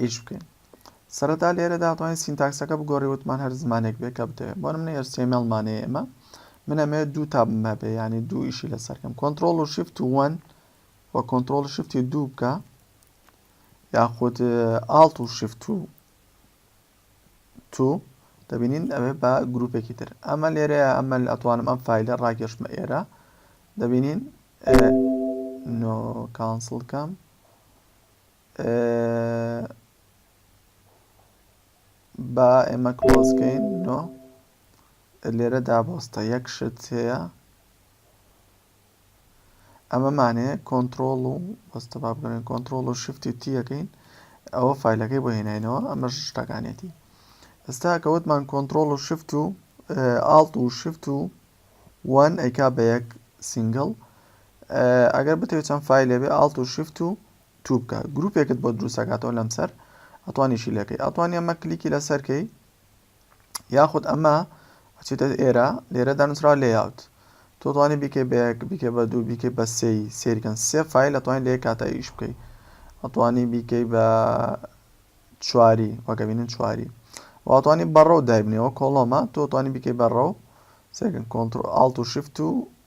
ئیش بکەین سەرەتا لێرەدا توانین سینتاکسەکە بگۆڕی وتمان هەر زمانێک بێ کە بتەوێت بۆ منە HTML مانەیە ئێمە من ئەمەوێت دوو تابم هەبێ ینی دوو ئیشی لەسەرکەم کۆنتترۆل و شیفت وەن و کۆنتترۆل شفتی دوو بکە یاخود ئاڵت و شفت و تو دەبینین ئەوێ بە گرروپێکی تر ئەمە لێرەیە ئەمە ئەتوانم ئەم فیلە ڕاکێشمە ئێرە دەبینین نۆ کانسڵکەم با ئێمە کلۆز کەین نۆ لێرە دابۆستە یەک شت هەیە ئەمەمانەیە کۆنتترۆل و بەستە با بگەێن کۆنتترۆل و شفتی تیەکەین ئەوە فیلەکەی بۆ هێناینەوە ئەمە شتەکانێتی ئێستا کەوتمان کۆنتترۆل و شفت و ئاڵت و شفت و وان ئەیکا بە یەک سینگل ئەگەر بتەوێت چەند فیلێ بێ ئاڵت و شفت و تو بکە گروپێکت بۆ دروست ئەکاتەوە لەمسەر ئەتوانیشی لێکەی ئەتوانی ئەمە کلیکی لەسەر کەی یاخود ئەمە ئەچێتە ئێرە لێرە دانوسرا لێاوت تۆ توانی بیکەی بەیەک بیکە بە دوو بیکەی بە سێی سێریکەن سێ فیل ئەتوانی لێ کاتە ئیش بکەی ئەتوانی بیکەی بە چواری وەگەبینن چواری واتوانی بەڕە و دایبنەوە کۆڵۆمە تۆ توانی بیکەی بەڕە و سێکن کۆنتتر ئاڵت و شفت و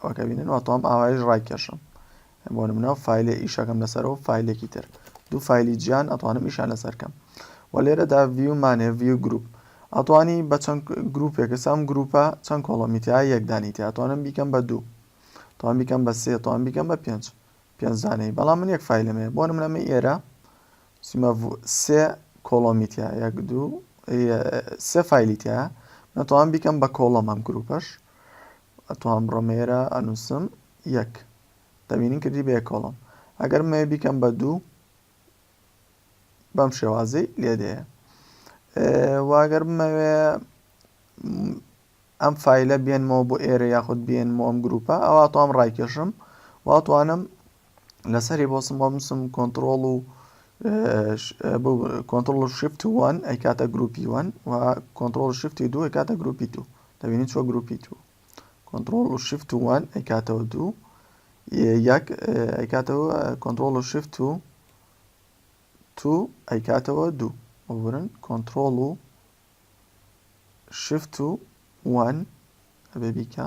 ئەوە کە بینن واتەوام ئاوایش ڕایکێشم بۆ منەوە فیلێ ئیشەکەم لەسەرەوە فیلێکی تر دوو فیلی جیان ئەتوانم ئیشان لەسەرکەم و لێرەدا ڤیومانێ ڤیو گروپ ئەتوانی بە چەند گروپێکە سام گروپە چەند کۆڵەمیتیا یەکدانی تیاتوانم بیکەم بە دوو توان بیکەم بە سێ توان بیکەم بە پێنج پێنجدانەی بەڵام من یەک فیلمێ بۆ منەمە ئێرە سیمە سێ کۆڵۆمیتیا یەک دوو سێ فیلیتیا نەتوان بیکەم بە کۆڵەمەم گروپەش ئەتوان بڕۆم ئێرە ئەنوسم یەک دەبینین کردی بە یەک کۆڵم ئەگەر بمەوێ بیکەم بە دوو بەم شێوازی لێدەیە واگەر بمەوێ ئەم فیلە بێنمەوە بۆ ئێرە یاخود بێنمەوە ئەم گروپە ئەوە توام ڕایکێشم واتوانم لەسەری بۆ سم بەمسم کۆنتترۆڵ و کۆنتترۆل و شفت وان ئەی کاتە گروپی وان و کۆنتترۆل شفتی دوو کاتە گروپی دوو دەبینی چۆ گروپی دوو کۆنتترۆل و شفت وان ئەی کاتەوە دوو یەک ئەی کاتەوە کۆنتترۆل و شفت و تو ئەی کاتەوە دوو وەبرن کۆنتترۆل و شفت و وان ئەبێ بیکە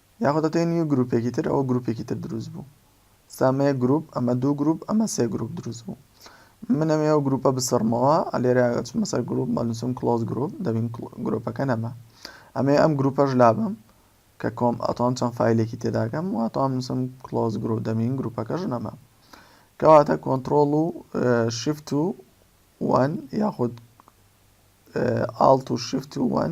یاخود هەتەی نیو گروپێکی تر ئەوە گروپێکی تر دروست بوو سامەیە گروپ ئەمە دوو گروپ ئەمە سێ گروپ دروست بوو من ئەمێ ئەو گروپە بسڕمەوە ئەلێرە چمە سەر گروپ مەنووسم کلۆز گروپ دەبین گروپەکە نەما ئەمێ ئەم گروپەش لابم کە کۆم ئەتوان چەند فیلێکی تێداگەم واتوان نووسم کلۆز گروپ دەبین گروپەکەش نەما کەواتە کۆنتترۆل و شفت و وان یاخود ئاڵت و شفت و وان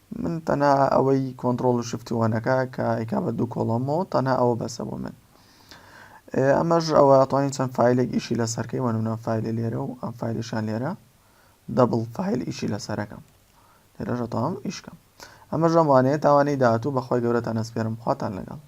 من تەنها ئەوەی کۆنتڕۆڵ و شفتی وەنەکە کە ئیکا بە دوو کۆڵەمەوە تەنها ئەوە بەسە بۆ من ئەمەش ئەوە ئەتوانین چەند فیلێک ئیشی لەسەرکەی وەنمونە فیلی لێرە و ئەم فیلیشان لێرە دەبڵ فیل ئیشی لەسەرەکەم لێرەژە تاوام ئیشکەم ئەمە ژەمانەیە تاوانەی داهاتوو بەخوای گەورەتان ئەسپێرم خواتان لەگەڵ